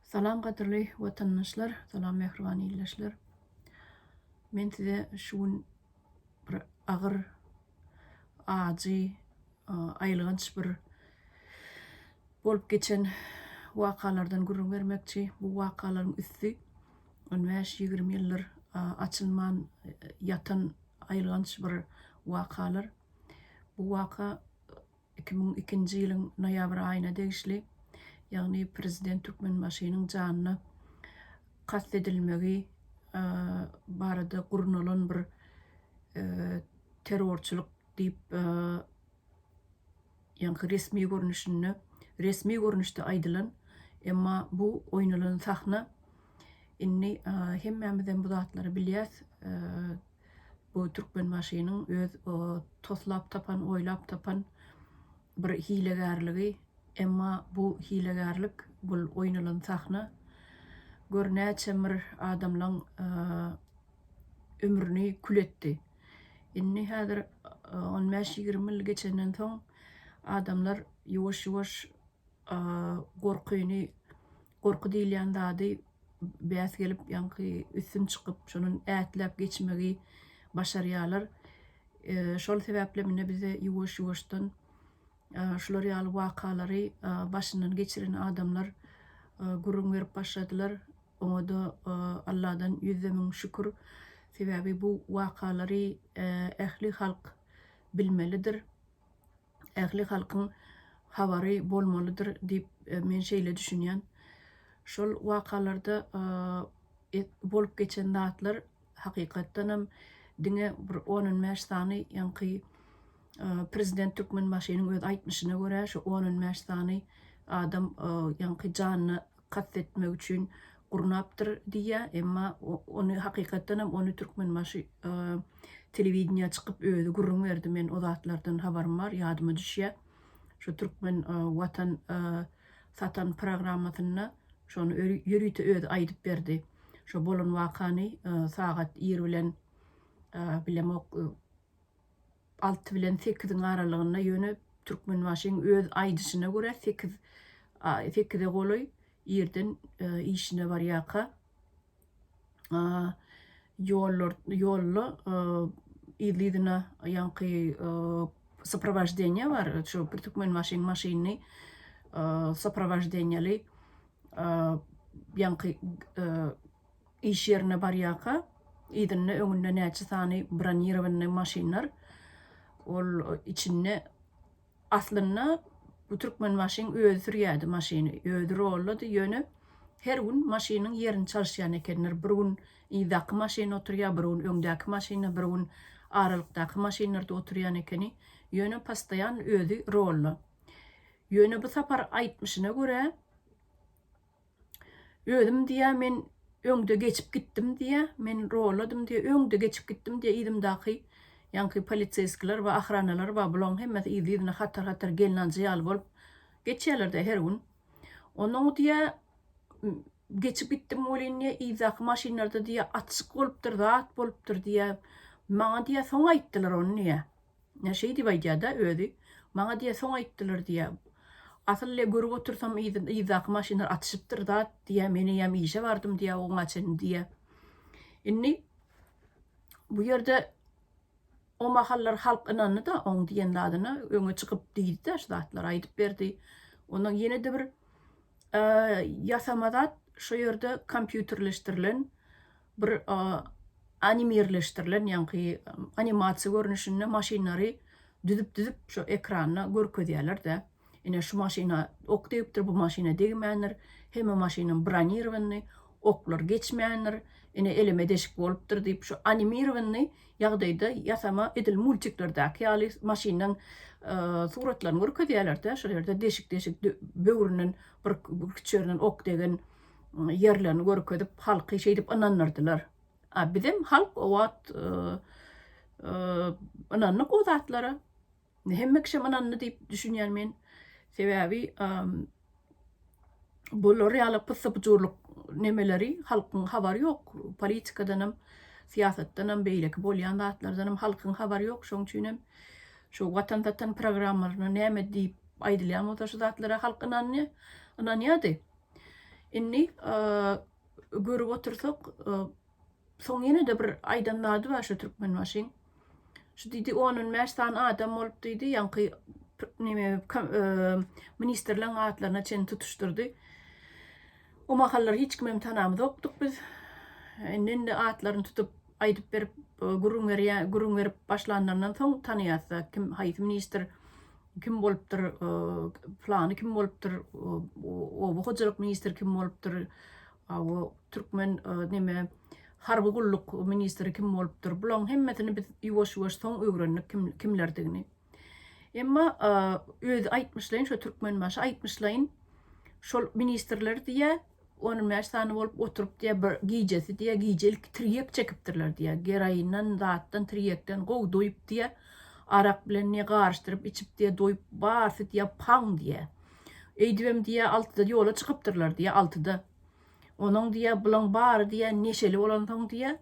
Salam gadyrly watandaşlar, salam mähriban ildeşler. Men size şu gün bir agyr, ajy, aýylganç bir bolup geçen wakalardan gürrüň bermekçi. Bu wakalaryň üsti on bäş, ýigrimi ýyldyr açylman ýatan aýylganç bir wakalar. Bu waka Iki müň ikinji ýylyň noýabr aýyna degişli, ýagny prezident Türkmenbaşynyň janyna kast edilmegi barada gurnalan bir terrorçylyk diýip ýaňky resmi görnüşinde, resmi görnüşde aýdylan, emma bu oýnalan sahna, indi hemmämizem bu zatlary bilýäs, Bu Türkmenbaşynyň öz toslap tapan, oýlap tapan bir hilegärligi. Emma bu hilegärlik, bu oýnalan sahna gör näçe mir adamlaň ömrüni kül etdi. Indi häzir on bäş-ýigrimi ýyl geçenden soň adamlar ýuwaş-ýuwaş gorkyny Gorky diýilýän zady bäs gelip, ýaňky üstün çykyp, şonun ätläp geçmegi başarýarlar. Şol sebäpli mine bize ýuwaş-ýuwaşdan şular ýaly wakalary başyndan geçiren adamlar gürrüň berip başladylar. Oňa-da Alladan ýüzde müň şükür. Sebäbi bu wakalary ähli halk bilmelidir. ähli halkyň habary bolmalydyr diýip men şeýle düşünýän. Şol wakalarda bolup geçen zatlar hakykatdan hem diňe bir on on bäş sany ýaňky prezident Türkmenbaşynyň öz aýtmyşyna görä şu on on bäş sany adam ýaňky janyna kast etmek üçin gurnapdyr diýýär, emma ony hakykatdan hem ony Türkmenbaşy telewideniýä çykyp özi gürrüň berdi, men o zatlardan habarym bar, ýadyma düşýär. Şu Türkmen watan satan programmasynda şony ýörite özi aýdyp berdi. Şo bolan wakany sagat ir bilen bilemok Alty bilen sekiziň aralygynda, ýöne Türkmenbaşyň öz aýdyşyna görä, sekiz, sekize golaý irden işine barýarka, ýollar, ýolda yzly-yzyna ýaňky soprowaždeniýe bar, şu bir Türkmenbaşyň maşynyny soprowaždeniýeli ýaňky Iş ýerine barýarka, yzynda, öňünde näçe sany bronirowanyny maşynlar, ol içinde, aslynda, bu Türkmenbaşyň özi sürýärdi maşyny, özi rollady, ýöne her gün maşynyň ýerini çalyşýan ekenler, bir gün yzdaky maşyn oturýar, bir gün öňdäki maşynda, bir gün aralykdaky maşynlarda oturýan ekeni, ýöne postoýan özi rolla. Ýöne bu sapar aýtmyşyna görä, Özüm diýýär, men öňde geçip gitdim diýýär, men rolladym diýýär, öňde geçip gitdim diýýär, yzymdaky ýaňky poliseýskiler bar, ahranalar bar, bularyň hemmesi yzly-yzyna hatar-hatar gelnanchy ýaly bolup geçýärler-de her gün. Onda oň diýýär, geçip gitdim welin diýýär, yzdaky maşynlarda diýýär, atşyk bolupdyr, zat bolupdyr diýýär. Maňa diýýär, soň aýtdylar ony diýýär. Şeýdip aýdýa-da özi, Maňa diýýä soň aýtdylar diýýä. Asyl le görüp otursam yzdaky maşynlar atyşypdyr zat diýýä, men eýýäm işe bardym diýýä oňa çenli diýýä. Indi bu ýerde o mahallar halk ynandy-da oň diýen zadyna, öňe çykyp diýdi-de şu zatlary aýdyp berdi. Ondan ýene-de bir ýasama zat, şo ýerde kompýuterleşdirilen, bir animirleşdirilen, ýaňky animasiýa görnüşinde maşynlary düzüp-düzüp şu ekranda görkezýärler-de. Ine, şu maşyna ok degipdir, bu maşyna degmändir, hemme maşynam bronirowanyny, oklar geçmändir, ine, eleme deşik bolupdyr diýip, şu animirowanyny ýagdaýda ýasama edil multiklerdäki ýaly maşyndan suratlaryny görkezýärler-de, şol ýerde deşik-deşik böwründen bir küçjerinden ok degen, ýerlerini görkezip, halky şeýdip ynandyrdylar. A bizem halk o wagt ynandyk o zatlara. Hemme kişem ynandy diýip düşünýän men. Sebäbi bular ýaly pyssy-pyjurlyk nemeleri halkyň habary ýok. Politikadanam, syýasatdanam, beýleki bolýan zatlardanam halkyň habary ýok. Şoň üçin hem şu Watan satan programmalaryna näme diýip aýdylýan bolsa şu zatlara halk ynanýardy. Indi görüp otursak, soň ýene-de bir aýdan zady bar şu Türkmenbaşyň. Şu diýdi, on on bäş sany adam bolup diýdi, ýaňky neme ministrleriň atlaryna çenli tutuşdyrdy. O mahallar hiç kimem tanamzokdyk biz. Indi-indi atlaryny tutup aýdyp berip, gürrüň berýär, gürrüň berip başlanlaryndan soň tanaýas-da kim haýsy ministr kim bolupdyr, plany kim bolupdyr, oba hojalyk ministri kim bolupdyr, o türkmen neme harby gulluk ministri kim bolupdyr, bularyň hemmesini biz ýuwaş-ýuwaş soň öwrendik kimlerdigini. Emma özi aýtmyşlaýyn, şo türkmenbaşy aýtmyşlaýyn, şol ministrler diýýär, On bäş sany bolup oturyp diýýär bir gijesi diýýär gije ilki tirýek çekipdirler diýýär geroindan zatdan tirýekden gowy doýup diýýär arak bilen ne garyşdyryp içip diýýär doýup barsy diýýär paň diýýär öýdübem diýýär altyda ýola çykypdyrlar diýýär altyda onuň diýýär bulaň bary diýýär neşeli bolansoň diýýär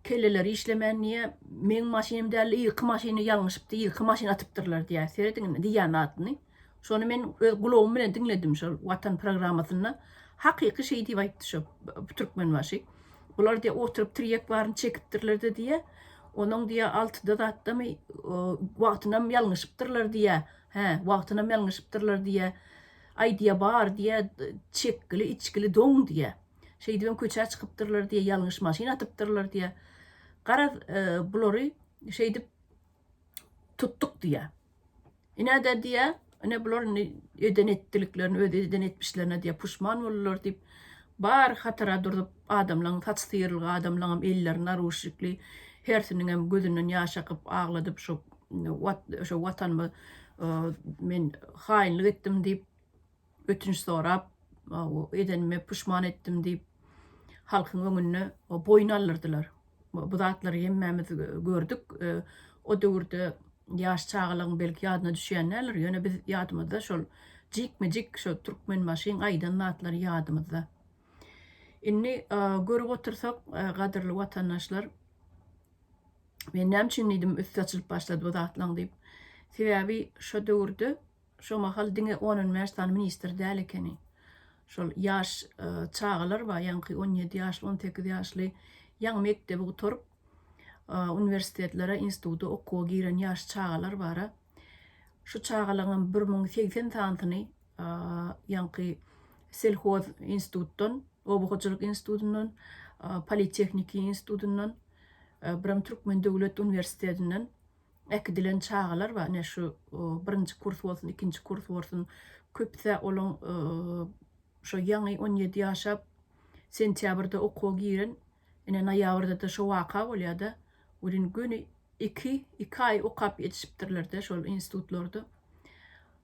Kelleleri işlemän diýýä meň maşynym däldi irki maşyny ýalňyşypdy irki maşyny atypdyrlar diýýä serediň indi diýýä zadyny şony men öz gulagym bilen diňledim şol watan programmasynda hakyky şeý diýip aýtdy şo türkmenbaşy bular diýýä oturyp tirýek baryny çekipdirlerde diýýä onuň diýýä altyda zatdamy wagtynam ýalňyşypdyrlar diýýä hä wagtynam ýalňyşypdyrlar diýýä aý diýýä bar diýýä çekgili içgili doň diýýä. Şeýdibem köçä çykypdyrlar diýe, ýalňyş maşyn atypdyrlar diýe. Garaz, bulary şeýdip tutduk diýe. Ine-de diýe, ine bular indi eden etdiliklerini, öz eden etmişlerine diýe puşman boldular diýip, bar hatara durup, adamlaryň saçy syýrylgy, adamlaryňam elleri naruşnikli, hersiniňem gözünden ýaş akyp, agladyp, şo Watanyma men haýynlyk etdim diýip, ötünç sorap, edenime puşman etdim diýip, halkyň öňünde boýun aldyrdylar. Bu zatlary hemmämiz gördük. O döwürde ýaş çagalaryň belki ýadyna düşýän däldir, ýöne biz ýadymyzda şol jikme-jik şo Türkmenbaşyň aýdan zatlary ýadymyzda. Indi görüp otursak, gadyrly watandaşlar, men näme üçin diýdim üsti açylyp başlady bu zatlaryň diýip, sebäbi şo döwürde Şo mahal diňe on-on bäş sany ministr däl ekeni. Şol ýaş çagalar bar, ýaňky on ýedi ýaşly, on sekiz ýaşly, ýaňy mekdebi gutaryp, uniwersitetlere, instituta okuwa giren ýaş çagalar bar-a. Şu çagalaryňam bir müň segsen sanysyny ýaňky selhoz institutdan, oba hojalyk institutyndan, politehniki institutyndan, birem Türkmen döwlet uniwersitetinden äkidilen çagalar bar, ine şu birinji kurs bolsun, ikinji kurs bolsun, köpüsi olaň şo ýaňy on ýedi ýaşa sentýabrda okuwa giren, ine noýabrda-da şo waka bolýar-da, welin göni iki, iki aý okap ýetişipdirler-de şol institutlarda.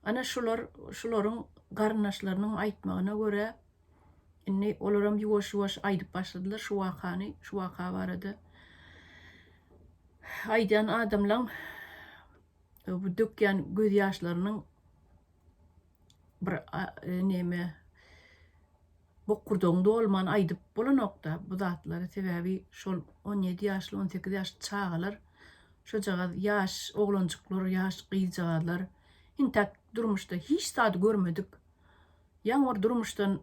Ana şular, şularyň garyndaşlarynyň aýtmagyna görä, Indi olaram ýuwaş-ýuwaş aýdyp başladylar şu wakany, şu waka barada. Aýdýan adamlaň bu dökýän gözýaşlarynyň bir näme bokurdagyň dolman aýdyp bolanok-da bu zatlary. Sebäbi şol on ýedi ýaşly, on sekiz ýaşly çagalar, şojagaz ýaş oglanjyklar, ýaş gyzjagazlar entäk durmuşda hiç zady görmedik. Ýaňyr durmuşdan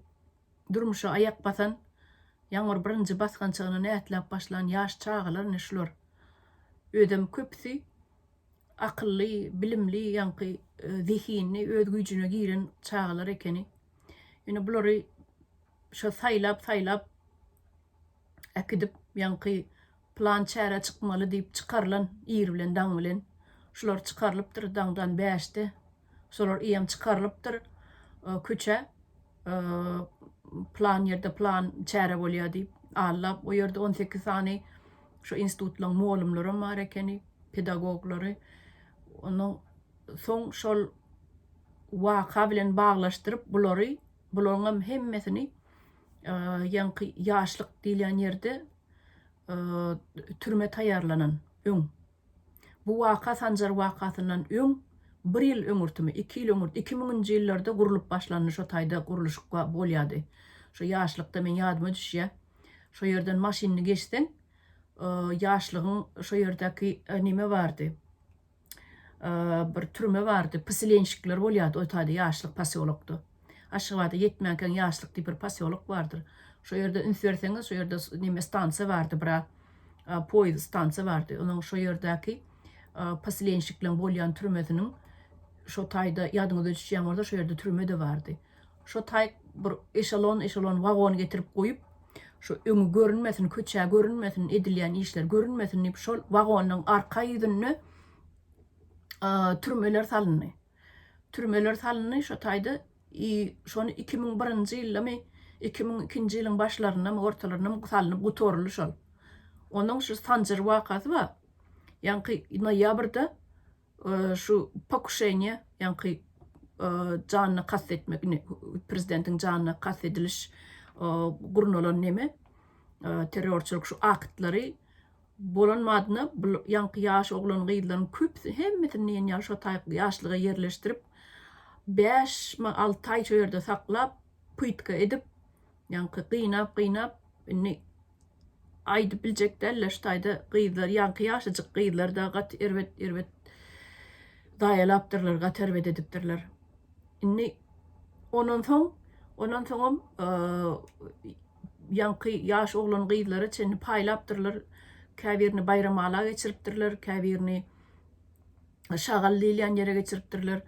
durmuşa aýak basan, ýaňyr birinji basgançagyny nätläp başlan ýaş çagalar ine şular. Özem köpüsi akylly, bilimli, ýaňky zehinli, öz güýjüne giren çagalar ekeni. Ine bulary şo saýlap-saýlap äkidip, ýaňky plan çärä çykmaly diýip çykarylan ir bilen daň bilen. Şular çykarylypdyr daňdan bäşde. Şolar iýem çykarylypdyr köçä. Plan ýerde plan çäre bolýar diýip. Alla o ýerde on sekiz sany şu institutlaryň molumlaram bar ekeni, pedagoglary. Ondan soň şol waka bilen baglaşdyryp bulary, bularyňam hemmesini ýaňky ýaşlyk diýilýän ýerde türme taýýarlanan öň, bu waka Sanjar wakasyndan öň bir ýyl öňürtimi, iki ýyl öňürti, iki müňünji ýyllarda gurlup başlandy şo taýda gurluşyk bolýardy. Şo ýaşlykda meň ýadyma düşýä, şo ýerden maşynly geçseň, ýaşlygyň şo ýerdäki neme bardy, bir türme bardy, psilenşikler bolýardy o taýda ýaşlyk posýolokda. Aşgabada ýetmänkäň ýaşlyk diýip bir posýolok bardyr. Şo ýerde üns berseňiz, şo ýerde neme stansiýa bardy bir poýuz stansiýa bardy. Onuň şo ýerdäki psilenşikleň bolýan türmesiniň şo taýda ýadyňyza düşýän bolsa şo ýerde türme-de bardy. Şo taý bir eşelon-eşelon wagon getirip goýup, şo öňi görünmesin, köçä görünmesin, edilýän işler görünmesin diýip, şol wagonyň arka ýüzünde türmeler salyndy. Türmeler salyndy, şo taýda i şony iki müň birinji ýyldamy, iki müň ikinji ýylyň başlaryndamy, ortalaryndamy salnyp gutaryldy şol. Onuň şu Sanjar wakasy bar. Ýaňky noýabrda Şu pokuşeniýe, ýaňky janyna kast etmek, indi prezidentiň janyna kast ediliş gurnalan neme, terrorçylyk şu aktlary bolan madyna bul ýaňky ýaş oglan-gyzlaryň köpüsini, hemmesini diýen ýaly şo taýy ýaşlyga ýerleşdirip, bäş, alty aý şo ýerde saklap, pytka edip, ýaňky gynap-gynap, indi aýdyp biljek däldiler şu taýda gyzlar ýaňky ýaşajyk gyzlar da gaty erbet erbet zaýalapdyrlar gaty erbet edipdirler indi ondan soň ondan soňam ýaňky ýaş oglan gyzlara çenli paýlapdyrlar käbirini baýramala geçiripdirler käbirini şagaly diýilýän ýere geçiripdirler.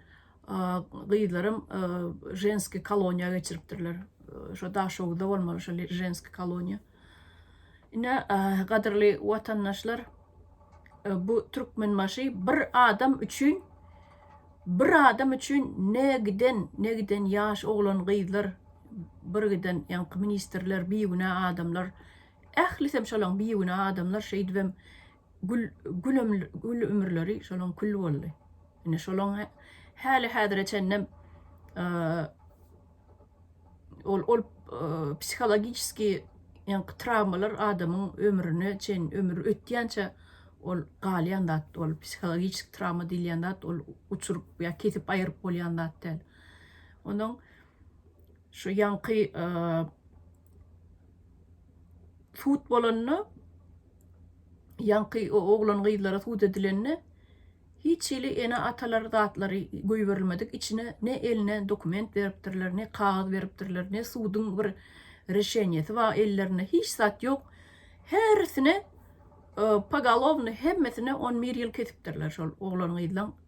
Gyzlaram ženskiý koloniýa geçiripdirler. Şo Daşoguzda bolmaly şo ženskiý koloniýa. Ine, gadyrly watandaşlar, bu Türkmenbaşy bir adam üçin, bir adam üçin ne giden, ne giden ýaş oglan-gyzlar, bir giden ýaňky ministrler, bigünä adamlar, ählisem şolaň bigünä adamlar, şeýdibem Gül gül ömür gül ömürleri şolaň kül boldy. Ine şolaň häli häzire çenlem ol ol psihologiçeski ýaňky trawmalar adamyň ömrüne çen ömür ötýänçä ol galýan zat ol psihologiçeski trawma diýilýän zat ol uçuryp ýa kesip aýyryp bolýan zat däl. Onuň Şu ýaňky sud bolanda, ýaňky o oglan-gyzlara sud edilende hiç hili ene-atalar zatlary goýberilmedik. Içine ne eline dokument beripdirler, ne kagyz beripdirler, ne suduň bir reşeniýesi bar ellerinde, hiç zat ýok. Hersine pogalowny hemmesine on bir ýyl kesipdirler şol oglan-gyzlaň.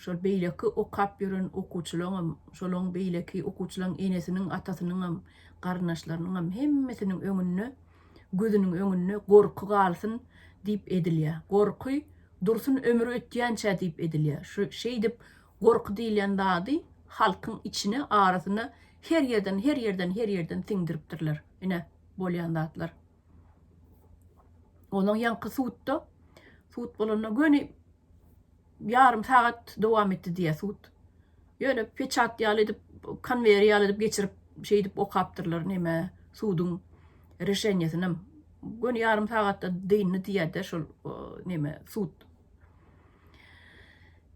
Şol beýleki okap ýören okuwçylaňam, şolaň beýleki okuwçylaň enesiniň, atasynyňam, garyndaşlarynyňam hemmesiniň öňünde, gözüniň öňünde gorky galsyn diýip edilýä. Gorky dursun ömri ötýänçä diýip edilýä. Şu şeýdip gorky diýilýän zady halkyň içine, arasyna her ýerden, her ýerden, her ýerden siňdiripdirler. Ine, bolýan zatlar. Onuň ýaňky sudda, sud bolanda göni, ýarym sagat dowam etdi diýýär sud. Ýöne peçat ýaly edip, konweýer ýaly edip geçirip, şeýdip okapdyrlar neme, suduň reşenýesinem. Göni ýarym sagatda dyndy diýýär-de şol neme, sud.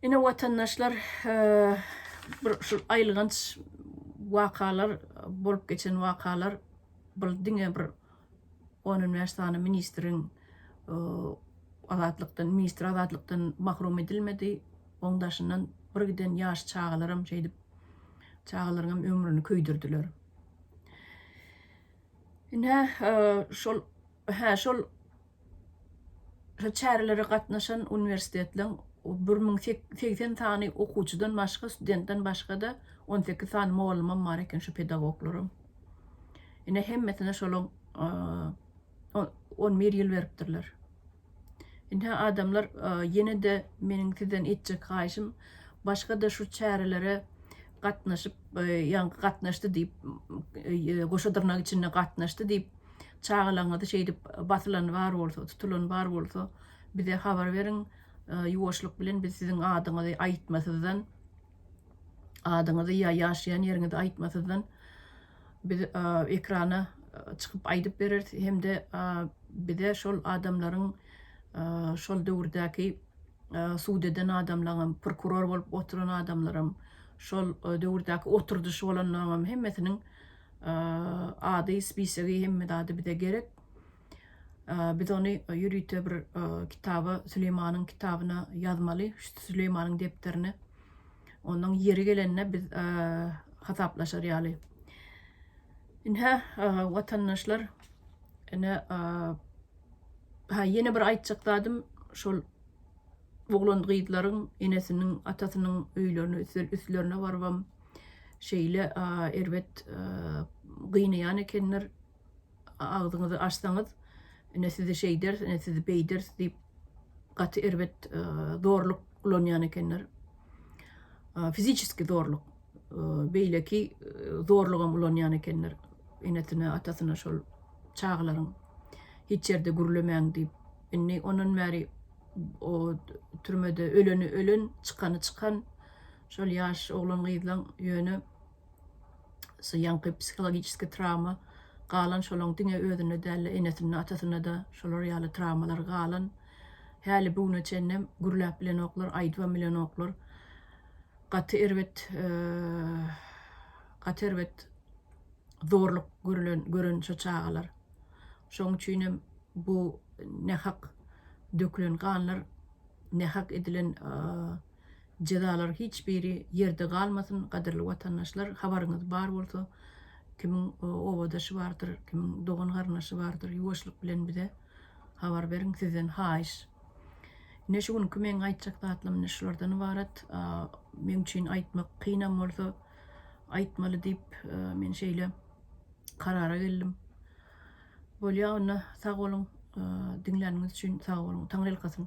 Ine, watandaşlar, bir şu aýylganç wakalar, bolup geçen wakalar, bul diňe bir on on bäş sany ministriň azatlykdan ministr azatlykdan mahrum edilmedi. Oň daşyndan bir giden ýaş çagalaram şeýdip çagalaryňam ömrüni köýdürdiler. Ine şol hä şol Şu çärelere gatnaşan uniwersitetleriň bir müň segsen sany okuwçydan başga, studentden başga-da on sekiz sany mugallymam bar eken, şu pedagoglaram. Ine, hemmesine şolam on bir ýyl beripdirler. Ine, adamlar, ýene-de meniň sizden etjek haýyşym, başga-da şu çärelere gatnaşyp, ýaňky gatnaşdy diýip, goşa dyrnak içinde gatnaşdy diýip, Çagalaryňyzy şeýdip basylan bar bolsa, tutulan bar bolsa, bize habar beriň. Ýuwaşlyk bilen biz siziň adyňyzy aýtmasyzdan, adyňyzy ýa ýaşaýan ýeriňizi aýtmasyzdan biz ekrana çykyp aýdyp bereris hem-de bize şol adamlaryň şol döwürdäki sud eden adamlaňam, prokuror bolup oturan adamlaram, şol döwürdäki oturdyşy bolanlaryňam hemmesiniň ady spisigi hemme zady bize gerek biz ony ýörite bir kitaba süleýmanyň kitabyna ýazmaly süleýmanyň depderine onuň ýeri gelende biz hasaplaşar ýaly inhä watandaşlar ine ha ýene bir aýtjak zadym şol oglan gyzlaryň enesiniň atasynyň öýlerine üstlerine barybam şeýle erbet gynaýan ekenler, agzyňyzy açsaňyz, ine sizi şeýderis, ine sizi beýderis diýip, gaty erbet zorluk ulanýan ekenler. Fiziçeski zorluk, beýleki zorlugam ulanýan ekenler, enesine, atasyna şol çagalaryň hiç ýerde gürlemäň diýip. Indi ondan bäri o türmede öleni ölen, çykany çykan. şol ýaş oglan-gyzlaň ýöne şu ýaňky psihologiçeski trawma galan, şolaň diňe özünde däl-de, enesinde, atasynda-da şolar ýaly trawmalar galan. Häli bu güne çenlem gürläp bilenoklar, aýdybam bilenoklar. Gaty erbet, gaty erbet zorluk görülen, gören şu çagalar. Şoň üçin hem bu nähak dökülen ganlar, nähak edilen Jezalar hiç biri ýerde galmasyn gadyrly watandaşlar habaryňyz bar bolsa kimiň obadaşy bardyr kimiň dogan garyndaşy bardyr ýuwaşlyk bilen bize habar beriň sizden haýyş. Ine şu günki meň aýtjak zatlarym ine şulardan ybarat meň üçin aýtmak kynam bolsa aýtmaly diýip men şeýle karara geldim. Bolýa onda sag boluň diňläniňiz üçin sag boluň taňyrýalkasyn.